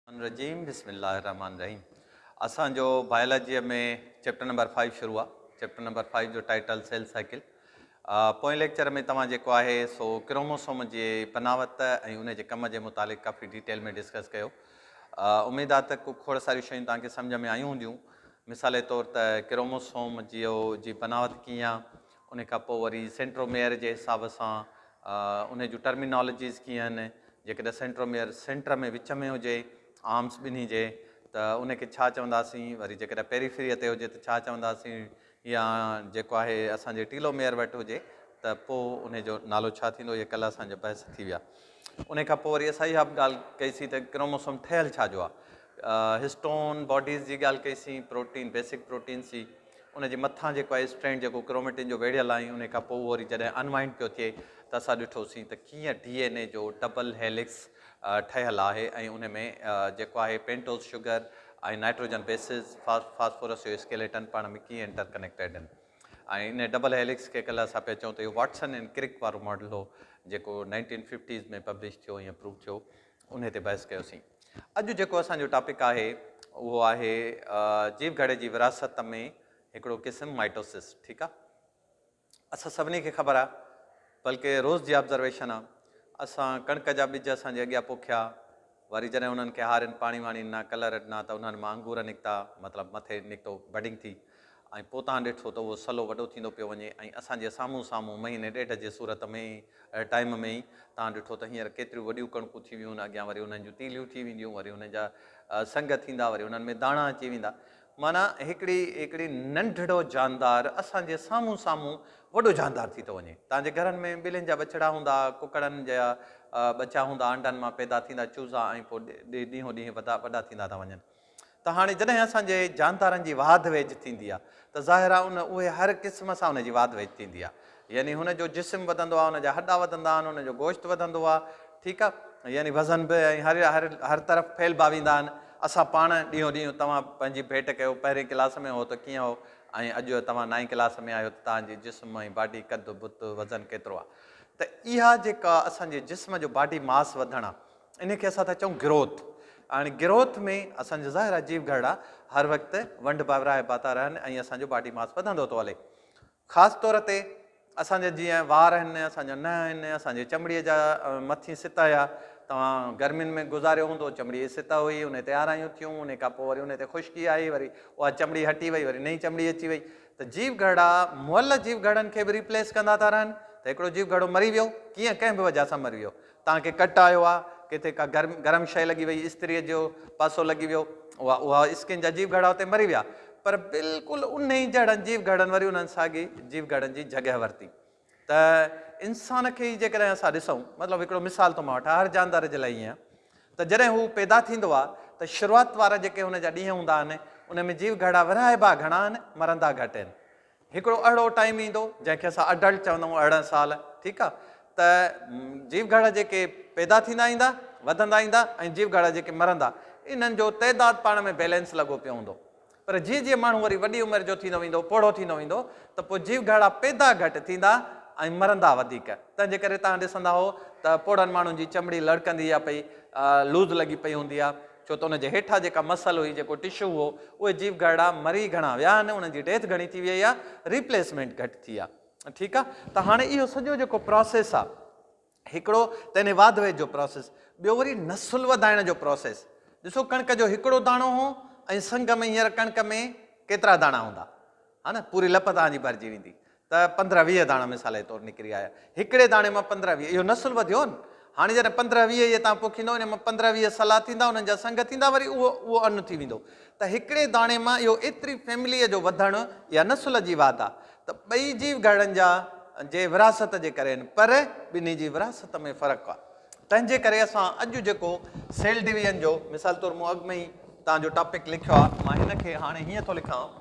الرجيم بسم الله الرحمٰن الرحيم اسان جو بائيولاجيء ۾ چيپٽر نمبر فائيو شروع آهي چيپٽر نمبر فائيو جو ٽائيٽل سيل سائيڪل پوئين ليڪچر ۾ توهان جيڪو آهي سو ڪروموسوم جي بناوت ۽ ان جي ڪم جي متعلق ڪافي ڊيٽيل ۾ ڊسڪس ڪيو اميد آهي ته کوڙ ساريون شيون توهان کي سمجھ ۾ آيون هونديون مثال طور ته ڪروموسوم جيو جي بناوت ڪيئن آهي ان کان پوء وري سينٽرو ميئر جي حساب سان ان جون ٽرمينالاجيز ڪيئن آهن، جيڪڏهن سينٽرو ميئر سينٽر ۾ وچ ۾ هجي آرمز ٻنهي جي ته ان کي ڇا چونداسين، وري جيڪڏهن پيريفريء تي هجي ته ڇا چونداسين يا جيڪو آهي اسان جي ٽيلو ميئر وٽ هجي ته پوء ان جو نالو ڇا ٿيندو، اهي ڪلهه اسان جا بحث ٿي ويا. ان کان پوء وري اسان اها به ڳالهه ڪئي سين ته ڪروموسوم ٺهيل ڇا جو آهي، هسٽون باڊيز جي ڳالهه ڪئي سين، پروٽين بيسڪ پروٽينز جي. ان جي مٿان جيڪو آهي اسٽرينڊ جيڪو ڪروميٽن جو ويڙهيل آهي انهي کان پوء اهو وري جڏهن انوائنڊ پيو ٿئي ته اسان ڏٺوسين ته ڪيئن ڊي اين اي جو ڊبل هيلڪس ٺهيل آهي ۽ انهي ۾ جيڪو آهي pentose sugar ۽ nitrogen bases phosphorus جو اسڪيليٽن پاڻ ۾ ڪيئن انٽر ڪنيڪٽيڊ ان ۽ انهي ڊبل هيلڪس کي ڪلهه اسان پيا چئون ته اهو واٽسن اينڊ ڪرڪ وارو ماڊل هو جيڪو نائنٽين ففٽيز ۾ پبلش ٿيو ۽ اپروو ٿيو انهي تي بحث ڪيوسين. اڄ جيڪو اسان جو ٽاپڪ آهي اهو آهي جيو گهڙي جي وراثت ۾ هڪڙو قسم مائٽوسس ٺيڪ آ اسان سڀني کي خبر آ بلڪه روز جي آبزرويشن آ اسان ڪڻڪ جا ٻج اسان جي اڳيان پوکيا وري جڏهن انهن کي هارين پاڻي واڻي ڏنا ڪلر ڏنا ته انهن مان انگور نڪتا مطلب مٿي نڪتو بڊنگ ٿي ۽ پوء تان ڏٺو ته اهو سلو وڏو ٿيندو پيو وڃي ۽ اسان جي سامهون سامهون مهيني ڏيڍ جي صورت ۾ ئي ٽائيم ۾ ئي تان ڏٺو ته هينئر ڪيتريون وڏيون ڪڻڪون ٿي ويون اڳيان وري انهن جون تيليون ٿي وينديون وري انهن جا سنگ ٿيندا وري انهن ۾ داڻا اچي ويندا معنيٰ هڪڙي هڪڙي ننڍڙو جاندار اسان جي سامهون سامهون وڏو جاندار ٿي ٿو وڃي تان جي گهرن ۾ ٻلين جا ٻڇڙا هوندا ها ڪڪڙن جا ٻچا هوندا آنڊن مان پيدا ٿيندا چوزا ۽ پوء ڏينهون ڏينهن وڏا ٿيندا ٿا وڃن. ته هاڻي جڏهن اسان جي جاندارن جي واڌ ويجهه ٿيندي آ ته ظاهر آ ان اهي هر قسم سان ان جي واڌ ويجهه ٿيندي آ يعني هن جو جسم وڌندو آ ان جا هڏا وڌندا آهن ان جو گوشت وڌندو آ ٺيڪ آ يعني وزن به ۽ هر هر هر طرف ڦهلبا ويندا آهن اسان پاڻ ڏينهون ڏينهن توهان پنهنجي ڀيٽ ڪيو پهرين ڪلاس ۾ هو ته ڪيئن هو ۽ اڄ توهان نائين ڪلاس ۾ آهيو ته توهان جي جسم ۽ باڊي قد بت وزن ڪيترو آ ته اها جيڪا اسان جي جسم جو باڊي ماس وڌڻ آ انهي کي اسان ٿا چئون گروٿ ۽ گروٿ ۾ اسان جا ظاهرا جيو گهرڙا هر وقت ونڊ ڀاورائبا ٿا رهن ۽ اسان جو باڊي ماس وڌندو ٿو هلي خاص طور تي اسان جا جيئن وار آهن اسان جا ننهن آهن اسان جي چمڙي جا مٿين ستا هيا توهان گرمين ۾ گذاريو هوندو چمڙي جي ستا هئي انهي تي آرايون ٿيون انهي کان پوء وري انهي تي خشڪي آئي وري اها چمڙي هٽي وئي وري نئين چمڙي اچي وئي ته جيو گهرڙا مئل جيو گهرڙن کي به ريپليس ڪندا ٿا رهن ته هڪڙو جيو گهرڙو مري ويو ڪيئن ڪنهن به وجه سان مري ويو تان کي ڪٽ آيو آ، ڪٿي ڪا گرم گرم شيء لڳي وئي، استريء جو پاسو لڳي ويو، اها اها اسڪين جا جيو گهڙا اتي مري ويا، پر بلڪل انهي جهڙن جيو گهڙن وري انهن ساڳي جيو گهڙن جي جڳهه ورتي ته انسان کي ئي جيڪڏهن اسان ڏسون، مطلب هڪڙو مثال ٿو مان وٺان، هر جاندار جي لاء ائين آ ته جڏهن هو پيدا ٿيندو آ ته شروعات وارا جيڪي هن جا ڏينهن هوندا آهن، انهن ۾ جيو گهڙا ورهائبا گهڻا آهن، مرندا گهٽ آهن، هڪڙو اهڙو ٽائيم ايندو جنهن کي اسان اڊلٽ چوندا آهيون ارڙهن سال ٺيڪ آ ته جيوگهڙا جيڪي پيدا ٿيندا ايندا وڌندا ايندا ۽ جيوگهڙا جيڪي مرندا انهن جو تعداد پاڻ ۾ بيلنس لڳو پيو هوندو پر جيئن جيئن ماڻهو وري وڏي عمر جو ٿيندو ويندو پوڙهو ٿيندو ويندو ته پوء جيوگهڙا پيدا گهٽ ٿيندا ۽ مرندا وڌيڪ تنهن جي ڪري تهان ڏسندا هو ته پوڙهن ماڻهن جي چمڙي لڙڪندي آ پئي لوز لڳي پئي هوندي آ ڇو ته ان جي هيٺان جيڪا مسل هئي، جيڪو ٽشو هو، اهي جيو گهرڙا مري گهڻا ويا آهن، انهن جي ڊيٿ گهڻي ٿي ويئي آهي، ريپليسمينٽ گهٽ ٿي آهي. ٺيڪ آهي، ته هاڻي اهو سڄو جيڪو پراسيس آهي، هڪڙو ته انهي واڌ ويد جو پراسيس، ٻيو وري نسل وڌائڻ جو پراسيس، ڏسو ڪڻڪ جو هڪڙو داڻو هو ۽ سنگ ۾ هينئر ڪڻڪ ۾ ڪيترا داڻا هوندا؟ ها نه، پوري لپ توهان جي ڀرجي ويندي. ته پندرهن ويهه داڻا مثال جي طور نڪري آيا. هڪڙي داڻي مان پندرهن ويهه اهو نسل وڌيو نه. هاڻي جڏهن پندرهن ويهه اهي توهان پوکيندؤ انهي مان پندرهن ويهه صلاح ٿيندا انهن جا سنگ ٿيندا وري اهو اهو ان ٿي ويندو ته هڪڙي داڻي مان اهو ايتري فيمليء جو وڌڻ اها نسل جي واڌ آ ته ٻئي جيو گهرڙن جا جي وراثت جي ڪري آهن پر ٻنهي جي وراثت ۾ فرق آ تنهن جي ڪري اسان اڄ جيڪو سيل ڊويزن جو مثال طور مون اڳ ۾ ئي توهان جو ٽاپڪ لکيو آ مان هن کي هاڻي هيئن ٿو لکان.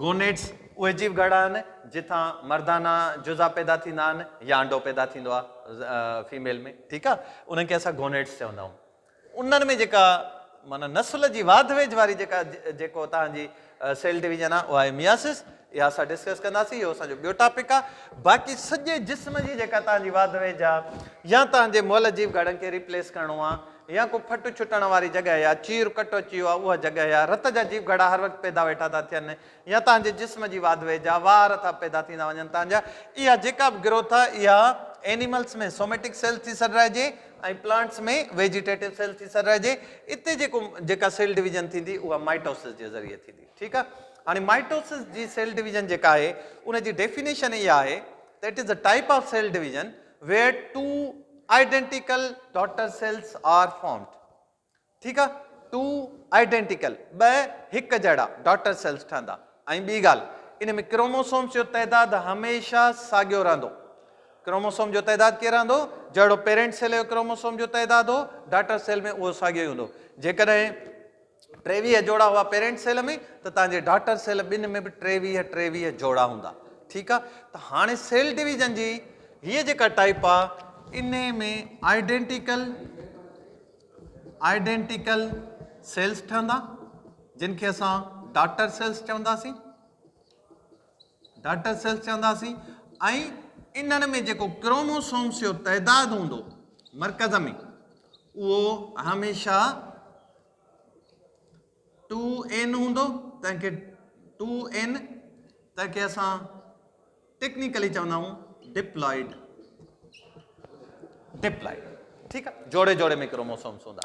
گونيٽس، اهي جيو گهڙا آهن جتان مردانه جزا پيدا ٿيندا آهن يا انڊو پيدا ٿيندو آهي فيميل ۾ ٺيڪ آهي انهن کي اسان گونيٽس چوندا آهيون انهن ۾ جيڪا معنيٰ نسل جي واڌ ويجهه واري جيڪا جيڪو تان جي سيل ڊويزن آهي اها آهي مياسس اها اسان ڊسڪس ڪنداسين اهو اسان جو ٻيو ٽاپڪ آهي باقي سڄي جسم جي جيڪا تان جي واڌ ويجهه آهي يا تان جي مئل جيو گهڙن کي ريپليس ڪرڻو آهي يا ڪو ڦٽ ڇٽڻ واري جڳهه يا چير ڪٽ اچي ويو آهي اها جڳهه يا رت جا جيو گهڙا هر وقت پيدا ويٺا ٿا ٿين يا توهان جي جسم جي واڌوي جا وار ٿا پيدا ٿيندا وڃن توهان جا اها جيڪا به گروٿ آهي اها اينيملس ۾ سوميٽڪ سيلز ٿي سڏرائجي ۽ پلانٽس ۾ ويجيٽيٽو سيلز ٿي سڏرائجي اتي جيڪو جيڪا سيل ڊويزن ٿيندي اها مائٽوسس جي ذريعي ٿيندي ٺيڪ آهي هاڻي مائٽوسس جي سيل ڊويزن جيڪا آهي ان جي ڊيفينيشن اها آهي ته it is a type of cell division where two identical daughter cells are formed ٺيڪ آ ٽو آئيڊينٽيڪل ٻه هڪ جهڙا ڊاٽر سيلز ٺهندا ۽ ٻي ڳالهه ان ۾ ڪروموسومز جو تعداد هميشه ساڳيو رهندو ڪروموسوم جو تعداد ڪيئن رهندو جهڙو پيرنٽ سيل جو ڪروموسوم جو تعداد هو ڊاٽر سيل ۾ اهو ساڳيو هوندو جيڪڏهن ٽيويهه جوڙا هئا پيرنٽ سيل ۾ ته تهان جي ڊاٽر سيل ٻن ۾ به ٽيويهه ٽيويهه جوڙا هوندا ٺيڪ آ ته هاڻي سيل ڊويزن جي هيء جيڪا ٽائيپ آ انهي ۾ آئيڊينٽيڪل آئيڊينٽيڪل سيلز ٺهندا جن کي اسان ڊاٽر سيلز چونداسين ڊاٽر سيلز چونداسين ۽ انهن ۾ جيڪو ڪروموسومز جو تعداد هوندو مرڪز ۾ اهو هميشه 2n هوندو تنهن کي 2n تنهن کي اسان ٽيڪنيڪلي چوندا آهيون ڊپلائيڊ ڊپلائيڊ ٺيڪ آهي جوڙي جوڙي ۾ ڪروموسومز هوندا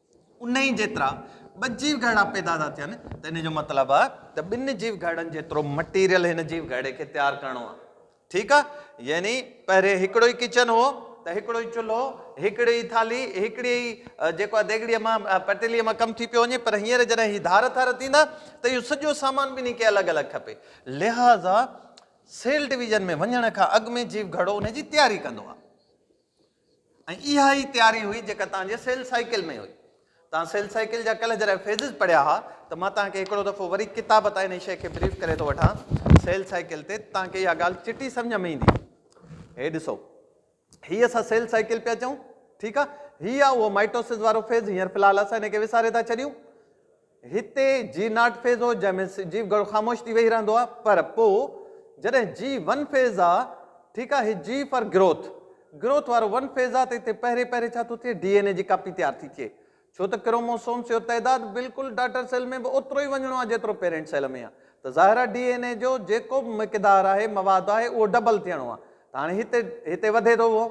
انهي جيترا ٻه جيو گهرڙا پيدا ٿا ٿين ته انهي جو مطلب آهي ته ٻن جيو گهرڙن جيترو مٽيريل هن جيو گهرڙي کي تيار ڪرڻو آهي ٺيڪ آهي يعني پهرين هڪڙو ئي ڪچن هو ته هڪڙو ئي چلهو هڪڙي ئي ٿالهي هڪڙي ئي جيڪو آهي ديڳڙي مان پتيلي مان ڪم ٿي پيو وڃي پر هينئر جڏهن هي ڌار ٿار ٿيندا ته اهو سڄو سامان ٻنهي کي الڳ الڳ کپي لهذا سيل ڊويزن ۾ وڃڻ کان اڳ ۾ جيو گهرڙو انهي جي تياري ڪندو آهي. ۽ اها ئي تياري هئي جيڪا توهان جي سيل سائيڪل ۾ هئي. توهان سيل سائيڪل جا ڪلهه جڏهن فيزز پڙهيا ها ته مان توهان کي هڪڙو دفعو وري ڪتاب تان انهي شيء کي بريف ڪري ٿو وٺان سيل سائيڪل تي ته توهان کي اها ڳالهه چٽي سمجهه ۾ ايندي. هي ڏسو هي اسان سيل سائيڪل پيا چئون ٺيڪ آ هي آ اهو مائٽوسز وارو فيز هينئر في الحال اسان هن کي وساري ٿا ڇڏيون هتي جي ناٽ فيز هو جنهن ۾ جي گهڻو خاموش ٿي ويهي رهندو آهي پر پو جڏهن جي ون فيز آ ٺيڪ آ هي جي فار گروٿ گروٿ وارو ون فيز آ ته هتي پهرين پهرين ڇا ٿو ٿئي ڊي اين اي جي ڪاپي تيار ٿي ٿئي ڇو ته ڪروموسومس جو تعداد بلڪل ڊاٽر سيل ۾ به اوترو ئي وڃڻو آ جيترو پيرنٽ سيل ۾ آ ته ظاهر آ ڊي اين اي جو جيڪو به مقدار آهي مواد آهي اهو ڊبل ٿيڻو آ ته هاڻي هتي هتي وڌي ٿو اهو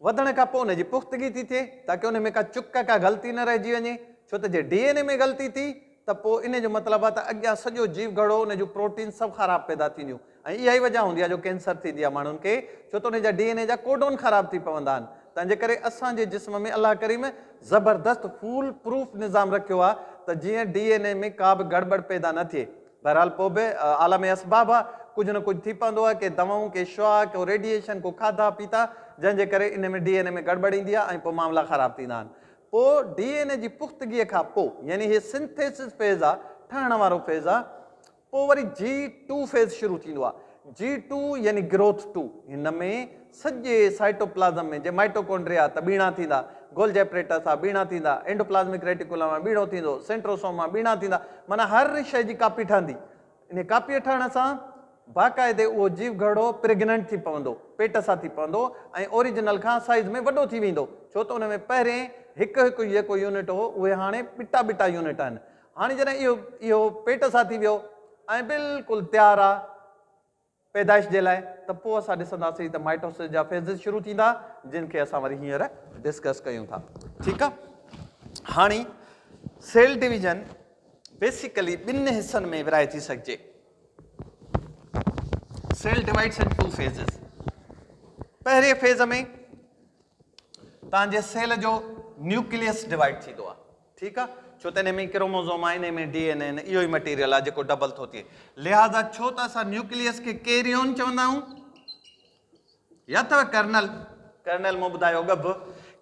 وڌڻ کان پوء ان جي پختگي ٿي ٿئي تاڪه ان ۾ ڪا چڪ ڪا غلطي نه رهجي وڃي ڇو ته جي ڊي اين اي ۾ غلطي ٿي ته پوء ان جو مطلب آهي ته اڳيان سڄو جيو گهڙو ان جون پروٽينز سڀ خراب پيدا ٿينديون ۽ اها ئي وجه هوندي آهي جو ڪينسر ٿيندي آهي ماڻهن کي ڇو ته ان جا ڊي اين اي جا ڪوڊون خراب ٿي پوندا آهن تنهنجي ڪري اسان جي جسم ۾ الله ڪريم زبردست فول پروف نظام رکيو آهي ته جيئن ڊي اين اي ۾ ڪا به گڙٻڙ پيدا نه ٿئي بهرحال پوء به عالم اسباب آ، ڪجهه نه ڪجهه ٿي پوندو آ، ڪي دوائون، ڪي شعاع، ڪو ريڊيئيشن، ڪو کاڌا پيتا، جنهن جي ڪري ان ۾ ڊي اين اي ۾ گڙٻڙ ايندي آ ۽ پوء معاملا خراب ٿيندا آهن. پوء ڊي اين اي جي پختگيء کان پوء، يعني هي سنٿيسز فيز آ، ٺهڻ وارو فيز آ، پوء وري جي ٽو فيز شروع ٿيندو آ، جي ٽو يعني گروٿ ٽو، هن ۾ سڄي سائٽوپلازم ۾ جي مائٽوڪونڊريا ته ٻيڻا ٿيندا، گولجي اپريٽس آ ٻيڻا ٿيندا، اينڊوپلازمڪ ريٽيڪولم آ ٻيڻو ٿيندو، سينٽروسوم آ ٻيڻا ٿيندا، معنيٰ هر شيء جي ڪاپي ٺهندي. انهيء ڪاپيء ٺهڻ سان باقاعدي اهو جيو گهرڙو پريگننٽ ٿي پوندو، پيٽ سان ٿي پوندو ۽ اوريجنل کان سائيز ۾ وڏو ٿي ويندو، ڇو ته ان ۾ پهرين هڪ هڪ جيڪو يونٽ هو، اهي هاڻي ٻٽا ٻٽا يونٽ آهن. هاڻي جڏهن اهو اهو پيٽ سان ٿي ويو ۽ بلڪل تيار آ پيدائش جي لاء ته پوء اسان ڏسنداسين ته مائٽوسس جا فيزز شروع ٿيندا جن کي اسان وري هينئر ڊسڪس ڪيون ٿا ٺيڪ آ هاڻي سيل ڊويزن بيسيڪلي ٻن حصن ۾ ورهائي ٿي سگهجي cell divides into two phases پهرين فيز ۾ تنهنجي سيل جو نيوڪليس ڊوائڊ ٿيندو آ ٺيڪ آ ڇو ته انهي ۾ ئي ڪروموزوم آهن انهي ۾ ڊي اين اي آهن اهو ئي مٽيريل آهي جيڪو ڊبل ٿو ٿئي لهذا ڇو ته اسان نيوڪليس کي ڪيريون چوندا آهيون يا اٿو ڪرنل ڪرنل مون ٻڌايو ڳڀ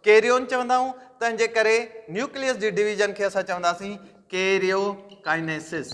ڪيريون چوندا آهيون تنهن جي ڪري نيوڪليس جي ڊويزن کي اسان چونداسين ڪيريو ڪائنيسس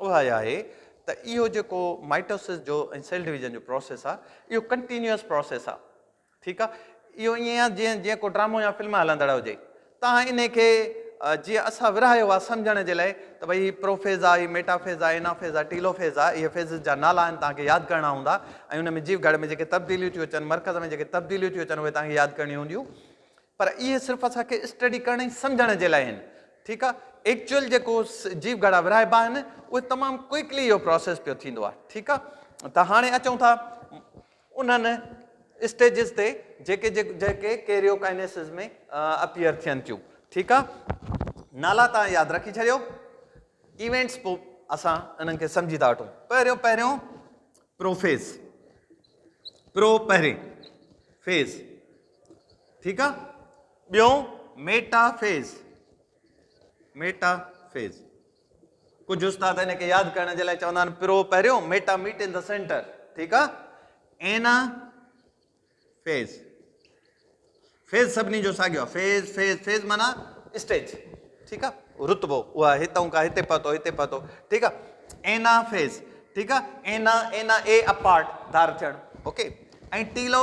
اها اها آهي ته اهو جيڪو مائٽوسس جو ۽ سيل ڊويزن جو پروسيس آهي اهو ڪنٽينيوس پروسيس آهي ٺيڪ آهي اهو ائين آهي جيئن جيئن ڪو ڊرامو يا فلم هلندڙ هجي تان انهي کي جيئن اسان ورهايو آهي سمجهڻ جي لاء ته ڀئي هي پروفيز آهي هي ميٽافيز آهي انافيز آهي ٽيلوفيز آهي اهي فيزز جا نالا آهن تان کي ياد ڪرڻا هوندا ۽ ان ۾ جيو گهڙ ۾ جيڪي تبديليون ٿيون اچن مرڪز ۾ جيڪي تبديليون ٿيون اچن اهي تان کي ياد ڪرڻيون هونديون پر اهي صرف اسان کي اسٽڊي ڪرڻ ۽ سمجهڻ جي لاء آهن ٺيڪ آ ايڪچوئل جيڪو جيو گهڙا ورهائبا آهن اهي تمام ڪوئڪلي اهو پروسيس پيو ٿيندو آ ٺيڪ آ ته هاڻي اچون ٿا انهن اسٽيجز تي جيڪي جيڪي ڪيريوڪائنيسز ۾ اپيئر ٿين ٿيون ٺيڪ آ نالا تان ياد رکي ڇڏيو ايونٽس پو اسان انهن کي سمجهي ٿا وٺون پهريون پهريون پروفيز پرو پهرين فيز ٺيڪ آ ٻيو ميٽا فيز ميٽا فيز ڪجهه استاد ان کي ياد ڪرڻ جي لاء چوندا آهن پرو پهريون meta meet in the centre ٺيڪ آ اينا فيز فيز سڀني جو ساڳيو آ فيز فيز فيز مانا اسٽيج ٺيڪ آ رتبو اها هتون کا هتي پهتو هتي پهتو ٺيڪ آ اينا فيز ٺيڪ آ اينا اينا اي اپارٽ ڌار ٿيڻ okay ۽ telo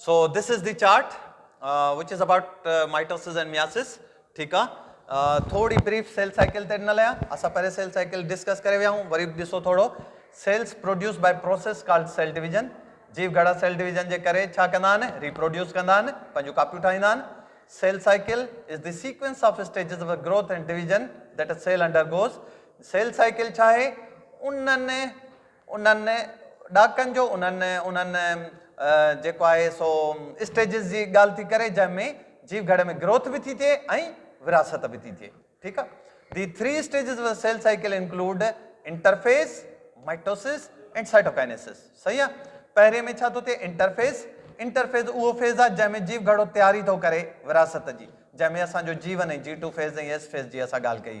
so this is the chart which is about mitosis and meiosis ٺيڪ آ ٿوري بريف سيل سائيڪل تي ڏنل آ اسان پهرين سيل سائيڪل ڊسڪس ڪري ويا آهيون وري به ڏسو ٿورو cells produce by process called cell division جيو گهڙا سيل ڊويزن جي ڪري ڇا ڪندا آهن ريپروڊيوس ڪندا آهن پنهنجون ڪاپيون ٺاهيندا آهن cell cycle is the sequence of stages of growth and division that cell undergoes cell cycle ڇا آهي انهن انهن ڏهاڪن جو انهن انهن جيڪو آهي سو اسٽيجز جي ڳالهه ٿي ڪري جنهن ۾ جيو گهڙي ۾ گروٿ به ٿي ٿئي ۽ ورهاست به ٿي ٿئي ٺيڪ آهي the three stages of cell cycle include interphase mitosis and cytokinesis صحيح آهي پهرين ۾ ڇا ٿو ٿئي انٽرفيس انٽرفيز اهو فيز آهي جنهن ۾ جيو گهڙو تياري ٿو ڪري ورهاست جي جنهن ۾ اسانجو G one ۽ G two phase ۽ S phase جي اسان ڳالهه ڪئي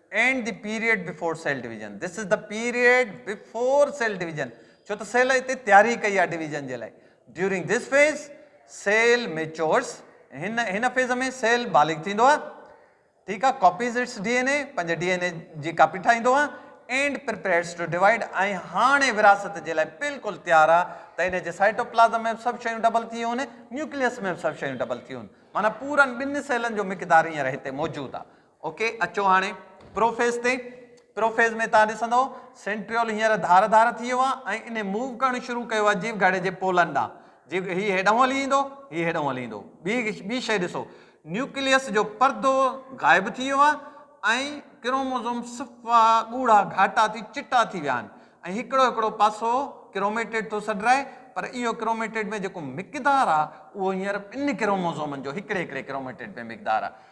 and the period before cell division This is the period before cell division ڇو ته سيل اتي تياري ڪئي آهي ڊويزن جي لاء During this phase cell matures هن هن فيز ۾ سيل بالغ ٿيندو آهي ٺيڪ آهي copies its D N A پنهنجي ڊي اين اي جي ڪاپي ٺاهيندو آهي اینڊ پرپيئرز ٽو ڊوائڊ ۽ هاڻي وراثت جي لاء بلڪل تيار آهي ته ان جي سائٽوپلازم ۾ سڀ شيون ڊبل ٿي ويون نيوڪليس ۾ سڀ شيون ڊبل ٿي ويون معنی پورن ٻن سيلن جو مقدار هينئر هتي موجود آهي اوڪي اچو هاڻي پروفيز تي پروفيز ۾ تان ڏسندو سينٽريول هينئر ڌار ڌار ٿي ويو آهي ۽ انهي موو ڪرڻ شروع ڪيو آهي جيو گهڙي جي پولن ڏانهن جيو هي هيڏانهن هلي ايندو هي هيڏانهن هلي ايندو ٻي ٻي شيء ڏسو نيوڪليس جو پردو غائب ٿي ويو آهي ۽ ڪروموزوم صفا ڳوڙها گهاٽا ٿي چٽا ٿي ويا آهن ۽ هڪڙو هڪڙو پاسو ڪروميٽيڊ ٿو سڏرائي پر اهو ڪروميٽيڊ ۾ جيڪو مقدار آهي اهو هينئر ٻن ڪروموزومن جو هڪڙي هڪڙي ڪروميٽيڊ ۾ مقدار آهي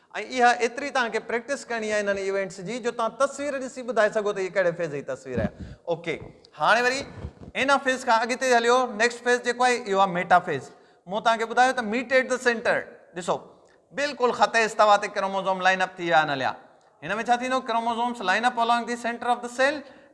۽ اها ايتري توهان کي پريڪٽس ڪرڻي آهي انهن ايونٽس جي جو توهان تصوير ڏسي ٻڌائي سگهو ته هي ڪهڙي فيز جي تصوير آهي اوڪي هاڻي وري ان فيز کان اڳتي هليو نيڪسٽ فيز جيڪو آهي اهو آهي ميٽا فيز مون توهان کي ٻڌايو ته ميٽ ايٽ ذا سينٽر ڏسو بلڪل خط استوا تي ڪروموزوم لائن اپ ٿي ويا آهن هليا هن ۾ ڇا ٿيندو chromosomes line up along the centre of the cell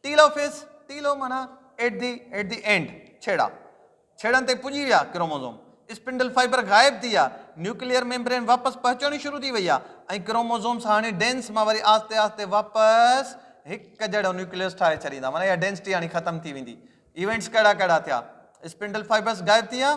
telophase, telo معنيٰ at the, At the End، ڇيڙا، ڇيڙن تي پڄي ويا ڪروموزوم، اسپنڊل فائبر غائب ٿي ويا، نيوڪليئر ميمبرين واپس پهچڻي شروع ٿي وئي آهي ۽ ڪروموزومز هاڻي ڊينس مان وري آهستي آهستي واپس هڪ جهڙو نيوڪليس ٺاهي ڇڏيندا معنيٰ اها ڊينسٽي هاڻي ختم ٿي ويندي ايونٽس ڪهڙا ڪهڙا ٿيا اسپنڊل فائبرز غائب ٿي ويا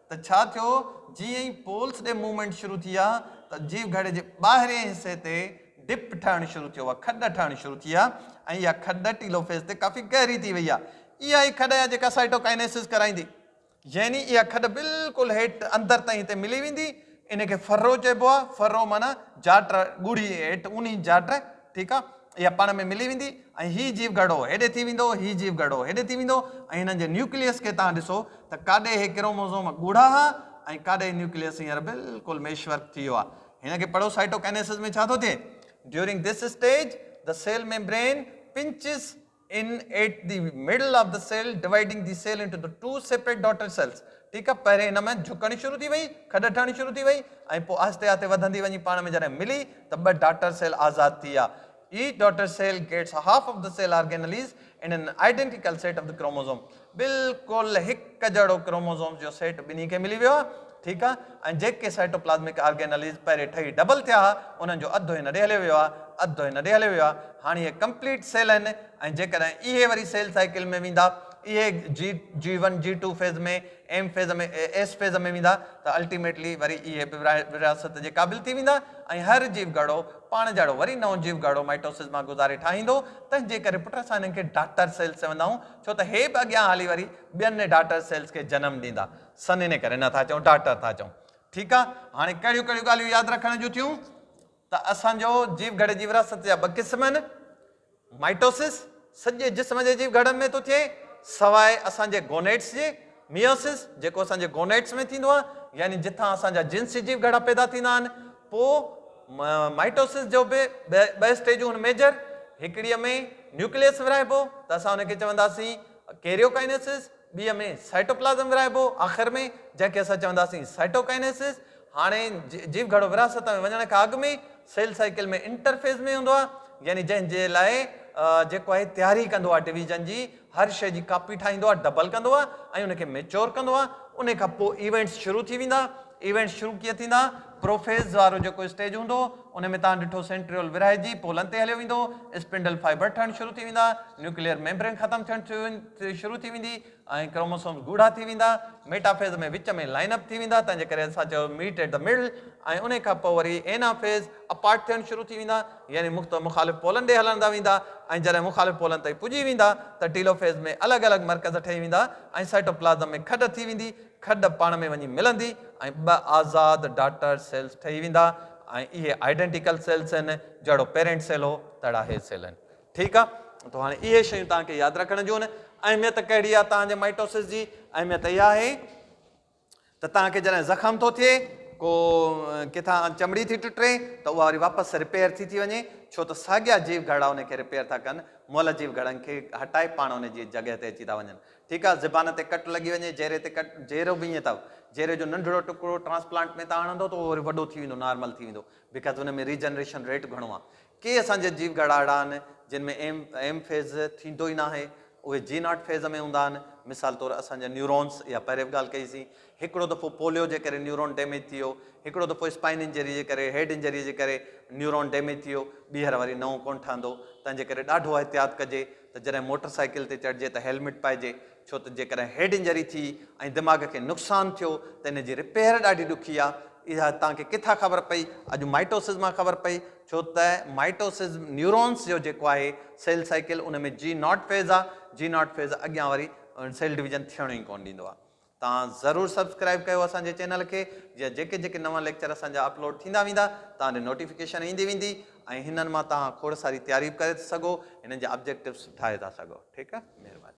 ته ڇا ٿيو، جيئن ئي پولس ڏي موومينٽ شروع ٿي آ ته جيو گهڙي جي ٻاهرئين حصي تي ڊپ ٺهڻ شروع ٿيو آ، کڏ ٺهڻ شروع ٿي آ ۽ اها کڏ ٽيلو فيز تي ڪافي گهري ٿي وئي آ. اها ئي کڏ آ جيڪا سائٽوڪائنيسز ڪرائيندي. يعني اها کڏ بلڪل هيٺ اندر تائين هتي ملي ويندي، ان کي فرو چئبو آ، فرو معنيٰ جاٽ ڳوڙهي هيٺ اونهي جاٽ، ٺيڪ آ. اها پاڻ ۾ ملي ويندي ۽ هي جيو گهرڙو هيڏي ٿي ويندو، هي جيو گهرڙو هيڏي ٿي ويندو ۽ هنن جي نيوڪليس کي توهان ڏسو ته ڪاڏي هي ڪروموزوم ڳوڙها ها ۽ ڪاڏي هي نيوڪليس هينئر بلڪل ميش ورڪ ٿي ويو آهي. هن کي پڙهو سائٽوڪائنيسز ۾ ڇا ٿو ٿئي. During this stage the cell membrane pinches in at the middle of the cell dividing the cell into the two separate daughter cells ٺيڪ آ پهرين ان ۾ جهڪڻ شروع ٿي وئي کڏ ٺهڻ شروع ٿي وئي ۽ پوء آهستي آهستي وڌندي وڃي پاڻ ۾ جڏهن ملي ته ٻه ڊاٽر سيل آزاد ٿي ويا each daughter cell gets half of the cell organelles and an identical set of the chromosome بلڪل هڪ جهڙو ڪروموزومز جو سيٽ ٻنهي کي ملي ويو ها، ٺيڪ آ، ۽ جيڪي سائٽوپلازمڪ آرگينلز پهرين ٺهي ڊبل ٿيا ها، انهن جو اڌ هن ڏي هليو ويو آ، اڌ هن ڏي هليو ويو آ، هاڻ اهي ڪمپليٽ سيل آهن، ۽ جيڪڏهن اهي وري سيل سائيڪل ۾ ويندا، اهي جي G one G two phase ۾ M phase ۾ S phase ۾ ويندا ته الٽيميٽلي وري اهي به ورهاست جي قابل ٿي ويندا ۽ هر جيو گهڙو پاڻ جهڙو وري نئون جيو گهڙو مائٽوسز مان گذاري ٺاهيندو، تنهنجي ڪري پٽ اسان انهن کي ڊاٽر سيلز چوندا آهيون، ڇو ته هي به اڳيان هلي وري ٻين ڊاٽر سيلز کي جنم ڏيندا. سن ان ڪري نه ٿا چئون ڊاٽر ٿا چئون. ٺيڪ آ. هاڻي ڪهڙيون ڪهڙيون ڳالهيون ياد رکڻ جون ٿيون ته اسان جو جيو گهڙي جي وراثت جا ٻه قسم آهن. مائٽوسس سڄي جسم جي جيو گهڙن ۾ ٿو ٿئي سواء اسان جي گونيٽس جي. ميوسس، جيڪو اسان جي گونيٽس ۾ ٿيندو آهي، يعني جتان اسان جا جنسي جيو گهڙا پيدا ٿيندا آهن، پوء مائٽوسس جو به ٻه اسٽيجون هن ميجر هڪڙيء ۾ نيوڪليس ورهائبو ته اسان ان کي چونداسين ڪيريوڪائنيسس، ٻيء ۾ سائٽوپلازم ورهائبو آخر ۾ جنهن کي اسان چونداسين سائٽوڪائنيسس. هاڻي جيو گهڙو ورهاست ۾ وڃڻ کان اڳ ۾ سيل سائيڪل ۾ انٽرفيز ۾ هوندو آهي، يعني جنهن جي لاء جيڪو آهي تياري ڪندو آهي ڊويزن جي، هر شيء جي ڪاپي ٺاهيندو آهي، ڊبل ڪندو آهي ۽ ان کي ميچور ڪندو آهي. ان کان پوء ايونٽس شروع ٿي ويندا. ايونٽس شروع ڪيئن ٿيندا؟ پروفيز وارو جيڪو اسٽيج هوندو، ان ۾ توهان ڏٺو سينٽريول ورهائجي پولن تي هليو ويندو، اسپنڊل فائبر ٺهڻ شروع ٿي ويندا، نيوڪليئر ميمبرين ختم ٿيڻ شروع ٿي ويندي ۽ ڪروموسومز ڳوڙها ٿي ويندا. ميٽافيز ۾ وچ ۾ لائن اپ ٿي ويندا، تنهن جي ڪري اسان چيو ميٽ ايٽ دي مڊل ۽ ان کان پوء وري اينافيز. اپارٽ ٿيڻ شروع ٿي ويندا يعني مختو مخالف پولن ڏي هلڻدا ويندا ۽ جڏهن مخالف پولن تائين پڄي ويندا ته ٽيلوفيز ۾ الڳ الڳ مرڪز ٺهي ويندا ۽ سائٽوپلازم ۾ کڏ ٿي ويندي کڏ پاڻ ۾ وڃي ملندي ۽ ٻه آزاد ڊاٽر سيلز ٺهي ويندا ۽ اهي آئيڊنٽيڪل سيلز هن جهڙو پيرينٽ سيل هو تهڙا هي سيل هن ٺيڪ آ تو هاڻي اهي شيون توهان کي ياد رکڻ جون اهميت ڪهڙي آ توهان جي مائيٽوسز جي اهميت اها آهي ته توهان کي جڏهن زخم ٿو ٿئي، ڪو ڪٿان چمڙي ٿي ٽٽي ته اها وري واپس رپيئر ٿي ٿي وڃي، ڇو ته ساڳيا جيو گهرڙا ان کي رپيئر ٿا ڪن، مئل جيو گهرڙن کي هٽائي پاڻ ان جي جڳهه تي اچي ٿا وڃن. ٺيڪ آهي، زبان تي ڪٽ لڳي وڃي، جهري تي ڪٽ، جهرو به ائين اٿو، جهري جو ننڍڙو ٽڪرو ٽرانسپلانٽ ۾ توهان هڻندو ته اهو وري وڏو ٿي ويندو، نارمل ٿي ويندو، بيڪاز ان ۾ ريجنريشن ريٽ گهڻو آهي. ڪي اسان جي جيو گهڙا اهڙا آهن جن ۾ ايم ايم فيز ٿيندو ئي ناهي، اهي جي ناٽ فيز ۾ هوندا آهن. مثال طور اسان جا نيورونز اها پهرين به ڳالهه ڪئي سين. هڪڙو دفعو پوليو جي ڪري نيورون ڊيميج ٿي ويو، هڪڙو دفعو اسپائن انجري جي ڪري، هيڊ انجري جي ڪري نيورون ڊيميج ٿي ويو، ٻيهر وري نئون ڪونه ٺهندو. تنهن جي ڪري ڏاڍو احتياط ڪجي ته جڏهن موٽر سائيڪل تي چڙهجي ته هيلميٽ پائجي، ڇو ته جيڪڏهن هيڊ انجري ٿي ۽ دماغ کي نقصان ٿيو ته ان جي رپيئر ڏاڍي ڏکي آهي. اها توهان کي ڪٿان خبر پئي؟ اڄ مائٽوسز مان خبر پئي. ڇو ته مائٽوسز نيورونز جو جيڪو آهي سيل سائيڪل ان ۾ جي ناٽ فيز آهي. جي ناٽ فيز اڳيان وري سيل ڊويزن ٿيڻ ئي ڪونه ڏيندو آهي. توهان ضرور سبسڪرائيب ڪيو اسان جي چينل کي جيئن جيڪي جيڪي نوان ليڪچر اسان جا اپلوڊ ٿيندا ويندا توهان ڏي نوٽيفڪيشن ايندي ويندي ۽ هنن مان توهان کوڙ ساري تياري به ڪري ٿا سگهو هنن جا آبجيڪٽوز ٺاهي ٿا سگهو ٺيڪ آهي مهرباني.